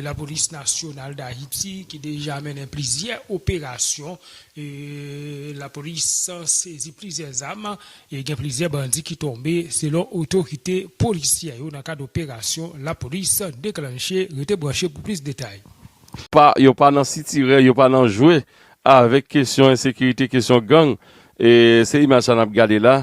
Lapolis Nasyonal Dayiti ki deja mennen plizyè operasyon lapolis sezi plizyè zam e gen plizyè bandi ki tonbe selon otorite polisyè yo nan kad operasyon lapolis deklanche. Rete branche pou plis detay. Pa yo pa nan sitirè yo pa nan jwe avèk kesyon ensekirite kesyon gang e se imaj sa nap gade la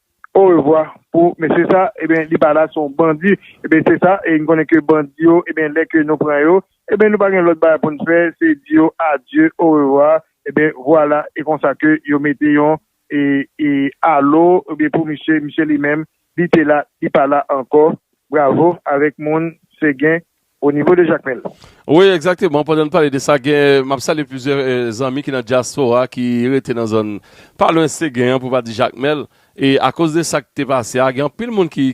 Orevwa pou mesye sa ebyen li pa la son bandi ebyen se sa e nou konnen ke bandi yo ebyen lè ke nou pran yo ebyen nou pa gen lòt bagay poun fè se di yo adye orevwa ebyen vwala e konsa ke yo mete yon e e alo ebyen pou misye misye li menm li te la li pa la ankò bravo avèk moun se gen O nivo de Jakmèl. Wi egzakteman pandan nou pale de sa gen map salye plizyè zanmi ki nan dyaspora ki rete nan zòn pa lwen Segen an pou pa di Jakmèl e akoz de sak te pase a gen anpil moun ki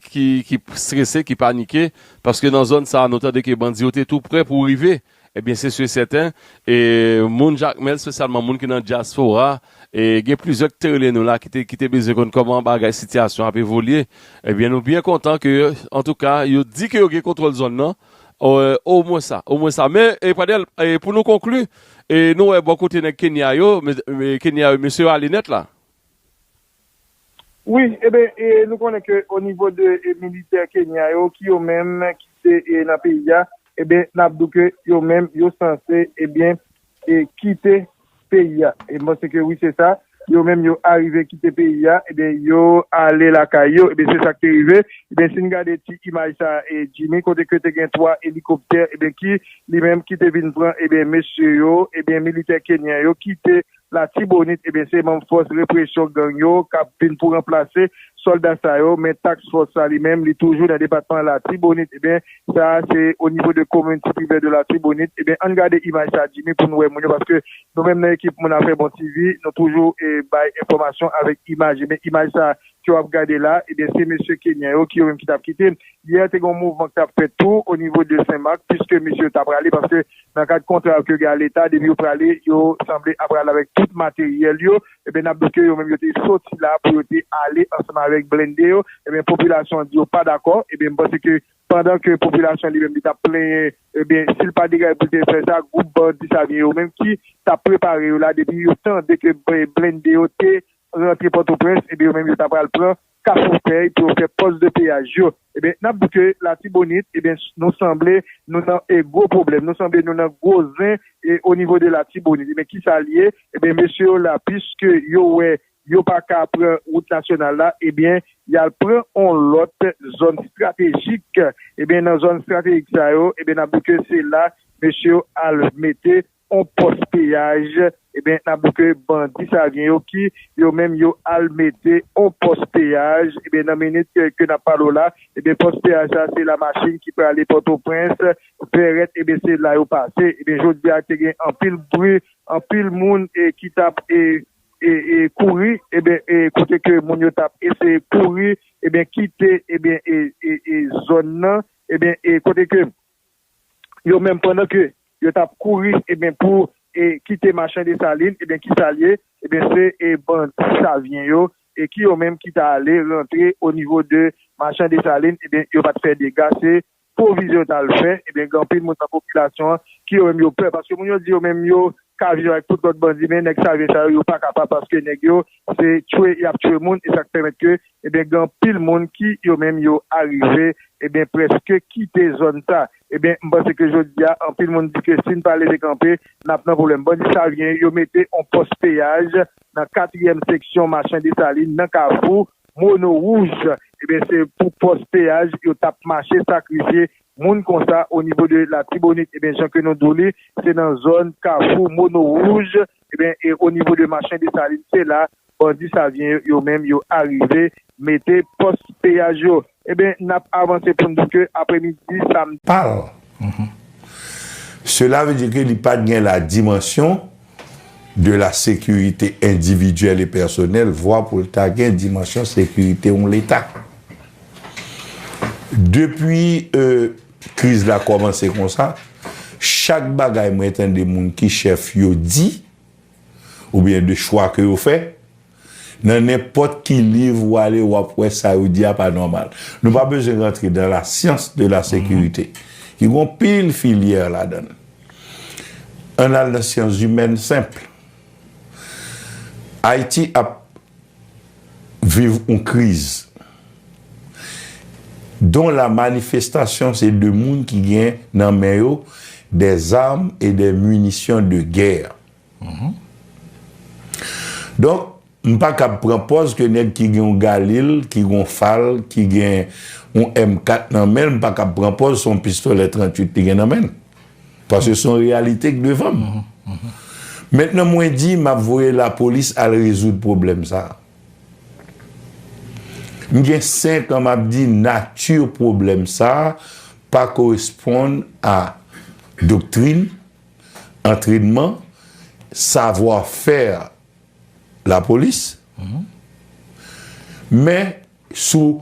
strese ki panike paske nan zòn sa nou tande ke bandi yo te tou prè pou rive ebyen se su e sèten e moun Jakmèl spesyalman moun ki nan dyaspora E gen plizyè ki te rele nou la ki te bezwen konn kòman bagay sitiyasyon ap evolye. Ebyen nou byen kontan ke antouka yo di ke yo gen kontwòl zòn nan. O mwen sa, o mwen sa. Men Pradèl pou nou konkli, nou wè bò kote nèg Kenya yo, Kenya yo mesye yo ale nèt la. Wi, eben nou konnen ke o nivo de militè Kenya yo ki yo menm ki te nan peyi a, eben nap di w ke yo menm yo sanse ebyen kite peyi a. E mwen panse ke wi se sa, yo menm yo arive kite peyi a, eben yo ale lakay yo, eben se sak te rive. Eben si n gade ti imaj sa Jimmy kote ke te gen 3 elikoptè eben ki li menm ki te vin pran eben mesye yo, eben militè Kenyan yo kite Latibonit ebyen se manm fòs represyon gang yo kap vin pou ranplase sòlda sa yo men task fòs sa li menm li toujou nan depatman latibonit ebyen sa se o nivo de komin ti privè de latibonit ebyen ann gade imaj sa Jimmy pou nou wè moun yo paske nou menm nan ekip moun afè bon TV nou toujou bay enfòmasyon avèk imaj ebyen imaj sa ke wap gade la ebyen se mesye kenyen yo ki yo menm ki tap kite yè te gon mouvman ki tap fèt tou o nivo de senmak piske mesye ta prale paske Nan kad kontra ke gen a leta depi yo prale yo sanble ap prale avèk tout materyèl yo ebyen nap di ke yo menm yo te soti la pou yo te ale ansanm avèk blende yo ebyen popilasyon an di yo pa dakò ebyen m panse ke pandan ke popilasyon li menm li tap plenyen ebyen sil pa degaje poul te fè sa gwoup bandi sa byen yo menm ki tap prepare yo la depi yo tande ke blende yo te rantre pòtoprens ebyen yo menm yo ta pral pran Kafoufèy pou yo fè pòs de peyaj yo. Ebyen, n ap di ke Latibonit, ebyen, nou sanble nou nan gwo pwoblèm, nou sanble nou nan gwo zen onivo de Latibonit. Ebyen, ki sa l ye? Ebyen, mesye yo la, piske yo wè yo pa ka pran wout nasyonal la, ebyen, y al pran yon lòt zòn estratejik. Ebyen, nan zòn estratejik sa yo, ebyen, n ap di ke se la mesye yo al mete on pòs peyaj ebyen nap di ke bandi savyen yo ki yo menm yo al mete on pòs peyaj ebyen nan minit ke nap pale w la ebyen pòs peyaj sa se la machin ki prale pòtoprens vèrèt ebyen se la yo pase ebyen jodi a te gen anpil bri anpil moun e ki tap e e kouri ebyen e kote ke moun yo tap eseye kouri ebyen kite ebyen e e zòn nan ebyen e kote ke. yo menm pandan ke yo tap kouri ebyen pou kite machan Desalin ebyen kisa l ye ebyen se bandi savyen yo e ki yo menm ki ta ale rantre o nivo de machan Desalin ebyen yo pat fè dega se pwovizyon yo tal fè ebyen gen anpil moun nan popilasyon an ki yo menm yo pè paske moun yo di yo menm yo ka viv avèk tout lòt bandi men nèg savyen sa yo yo pa kapab paske nèg yo se tchwe yap tchwe moun e sak pèmèt ke Ebyen gen anpil moun ki yo menm yo arive ebyen preske kite zòn sa. Ebyen m panse ke jodi a anpil moun di ke si n pa leve kanpe nap nan pwoblèm. Bandi Savyen yo mete on pòs peyaj nan katriyèm seksyon Machan Desalin nan kafou Mono Wouj. Ebyen se pou pòs peyaj yo tap mache sakrifye moun konsa onivo de Latibonit. Ebyen jan ke nou di w li se nan zòn kafou Mono Wouj Ebyen e o nivo de Machen Desalin se la bandi Savyen yo menm yo arive mete pòs peyaj yo. Ebyen nap avanse poun di ke apre midi samdi. Pa l. Sela ve di ke li pat gen la dimansyon de la sekirite endividyèl e pèsonèl vwa pou l ta gen dimansyon sekirite yon leta. Depi e. Kriz la kòmanse konsa, chak bagay mwen tande moun ki chèf yo di, oubyen de chwa ke yo fè, nan nenpòt ki liv ou ale ou ap wè sa yo di a pa nòmal. Nou pa bezwen rantre dan la syans de la sekirite, ki gon pil filyè ladan l. Ann al nan syanzimèn senpl. Ayiti ap viv yon kriz don la manifestasyon se de moun ki gen nan men yo dè zam e dè minisyon de gè donk m pa kab pran pòz ke nèg ki gen yon galil ki gen yon fal ki gen yon m4 nan men l m pa kab pran pòz se yon pistolè 38 li gen nan men l. Paske son reyalite k devan m. Mentnan mwen di map voye lapolis al rezoud pwoblèm sa. M gen 5 an map di nati pwoblèm sa pa koresponn a doktrin, antrenman, savwa fè lapolis. Men sou.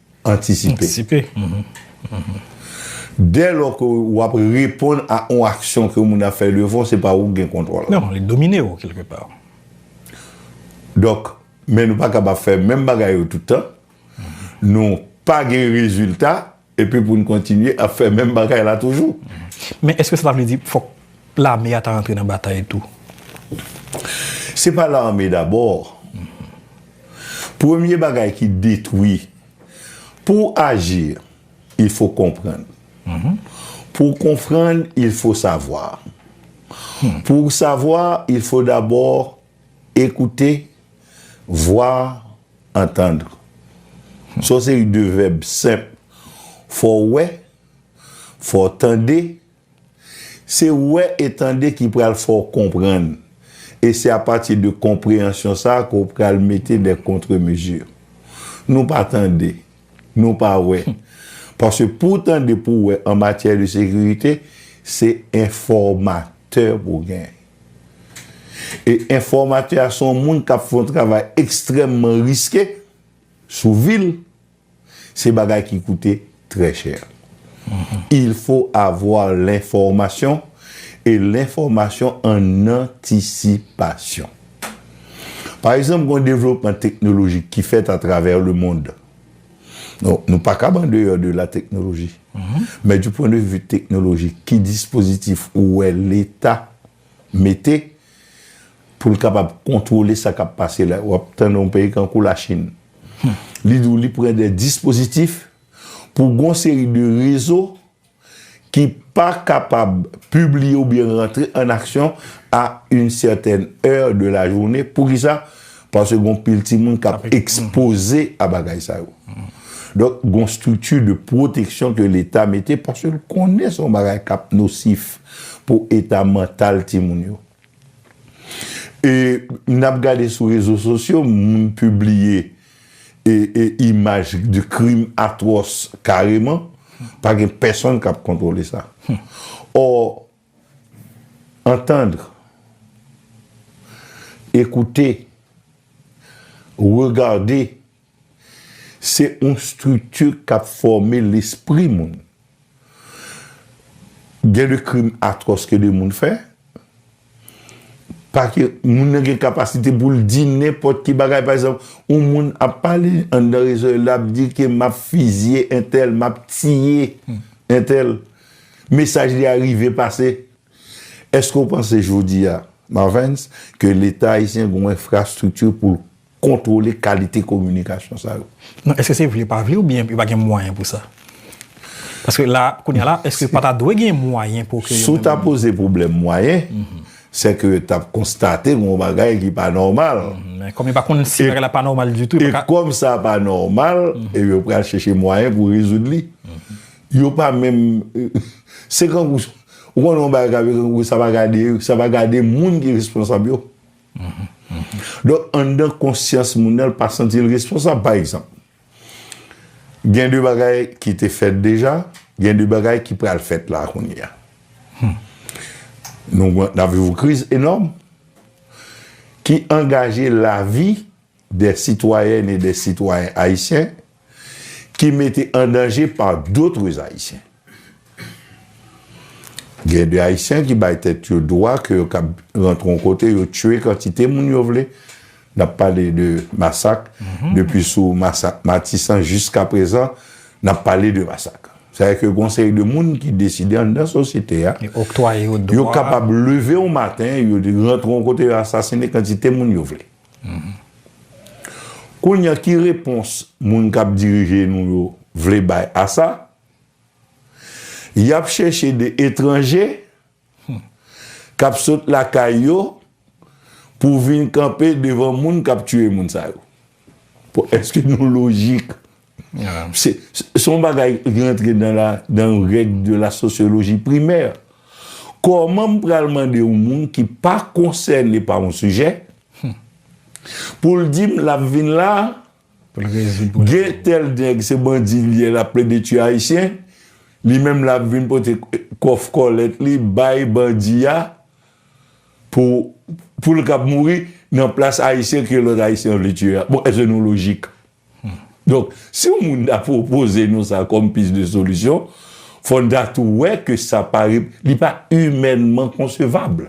antisipe. Dè lò ke ou ap reponn a yon aksyon ke yon moun ap fè devan w, se pa ou ki gen kontwòl la. Non, li domine ou kelke pa. Donk, men nou pa kapab fè menm bagay yo tout tan, nou pa gen rezilta, epi pou nou kontinye ap fè menm bagay la toujou. Men eske sa ta vle di fòk lame a ta rantre nan batay tou? Se pa lame dabò. Premye bagay ki detwi. Pou w aji, il fo konprann. Pou w konprann, il fo savwa. Pou w savwa, il fo dabò ekoute, voir, entendre. Sa w seri de vèb senp. Fò w wè, fò w tande. Se wè e tande ki pral fè w konprann, e se apati de konpreyansyon sa a ke w pral mete dè kontremezi. Nou pa tande, nou pa wè. Paske pou w tande, pou w wè an matyè de sekirite, se enfòmatè pou w gen. E enfòmatè a se yon moun k ap fè yon travay ekstrèmman riske sou vi l. Se bagay ki koute trè chè. Il fo avwa lenfòmasyon e lenfòmasyon an antisipasyon. Pa egzanp, gen yon devlopman teknolojik ki fèt atravè lemond. Donk, nou pa kab andeyò de lateknoloji. Men di pwendevi teknolojik, ki dispozitif ou wè Leta mete pou l kapab kontwole sa k ap pase la, w ap tande yon peyi tankou Lachin, li di w li pran dè dispozitif pou gon seri de rezo ki pa kapab pibliye oubyen rantre an aksyon a yn sètèn è de lajounen, poukisa? Paske gon pil timoun kap ekspoze a bagay sa yo. Donk gon strikti de pwoteksyon ke leta mete paske l konnen son bagay kap nosif pou eta mantal timoun yo. E nap gade sou rezo sosyo moun pibliye e imaj de krim atwòs kareman pa gen pèsonn kap kontwole sa. Ò. Entendre, écouter, regarder, se yon strikti k ap fòme lespri moun. Gen de krim atwòs ke de moun fè, pake moun nan gen kapasite pou l di nenpòt ki bagay. Pa egzanp, yon moun ap pale anndan rezo l, l ap di ke m ap fizye entèl, m ap tiye entèl. Mesaj li a rive pase? Eske ou panse jodi a, Marvens, ke Leta ayisyen gen yon enfrastrikti pou l kontwole kalite kominikasyon sa yo? Non, eske se vle pa vle oubyen yo pa gen mwayen pou sa? Paske la, kounye a la, eske pa ta dwe gen mwayen pou ke yo menm. Si w ta poze pwoblèm mwayen, se ke yo t ap konstate gen yon bagay ki pa nòmal. Men, kòm yo pa konn si bagay la pa nòmal ditou, yo pa ka. E kòm sa pa nòmal, yo pral chèche mwayen pou rezoud li. Yo pa menm Se kankou Ou konnen yon bagay ka vin kankou sa pa gade Sa pa gade moun ki responsab yo Donk anndan konsyans moun nan l pa santi l responsab Pa egzanp Gen de bagay ki te fèt deja Gen de bagay ki pral fèt la kounye a Nou gen N ap viv yon kriz enòm Ki angaje lavi Des citoyennes et des citoyens haïtiens ki mete an danje par d'autres haïtiens. Gen de haïtiens ki bay tèt yo dwa ke yo kab rantre yon kote yo tue kantite moun yo vle, nap pale de masak depi sou masak Matisan jiska prezan nap pale de masak. Sa vle di ke gon seri de moun ki deside anndan sosyete a yo kapab leve yon maten yo rantre yon kote yo asasine kantite moun yo vle. Kounya ki repons moun kap dirije nou yo vle bay a sa? Yap chèche 2 etranje kap sot lakay yo pou vin kanpe devan moun kap tiye moun sa yo. Bon eske nou lojik? Se yon bagay ki rantre dan règ de la sosyoloji primè. Kòman m pral mande yon moun ki pa konsène pa yon sijè pou l di m l ap vin la, gen tèl nèg se bandi li ye l ap plede tiye Ayisyen, li menm l ap vin pote kòf kòlèt li bay bandi a pou l ka mouri nan plas Ayisyen ke lòt Ayisyen vle tiye a. Bon, èske nou lojik? Donk, si yon moun ta pwopoze nou sa kòm pis de solisyon, fò n ta tou wè ke sa pa, li pa imènman konsevab.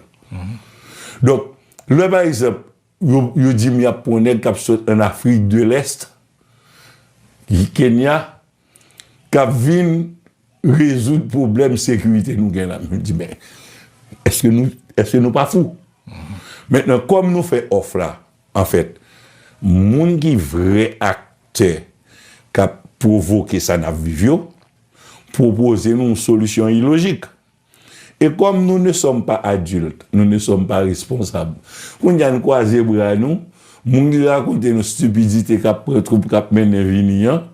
Donk, lè pa egzanp, yo di m y ap pran yon nèg k ap sot ann Afrik de Lèst, Kenya, k ap vin rezoud pwoblèm sekirite nou gen la. M di men, èske nou pa fou? Mentnan, kòm nou fè òf la, Anfèt, moun ki vrè aktè k ap pwovoke sa n ap viv yo, pwopoze nou yon solisyon ilojik. E kòm nou ne sòm pa adilt, nou ne sòm pa responsab, kounye a n kwaze bra nou, moun ki rakonte nou stipidite k ap pran twoup k ap mennen vini an,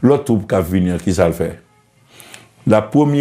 lòt twoup k ap vini an, ki sa l fè? Lapremye.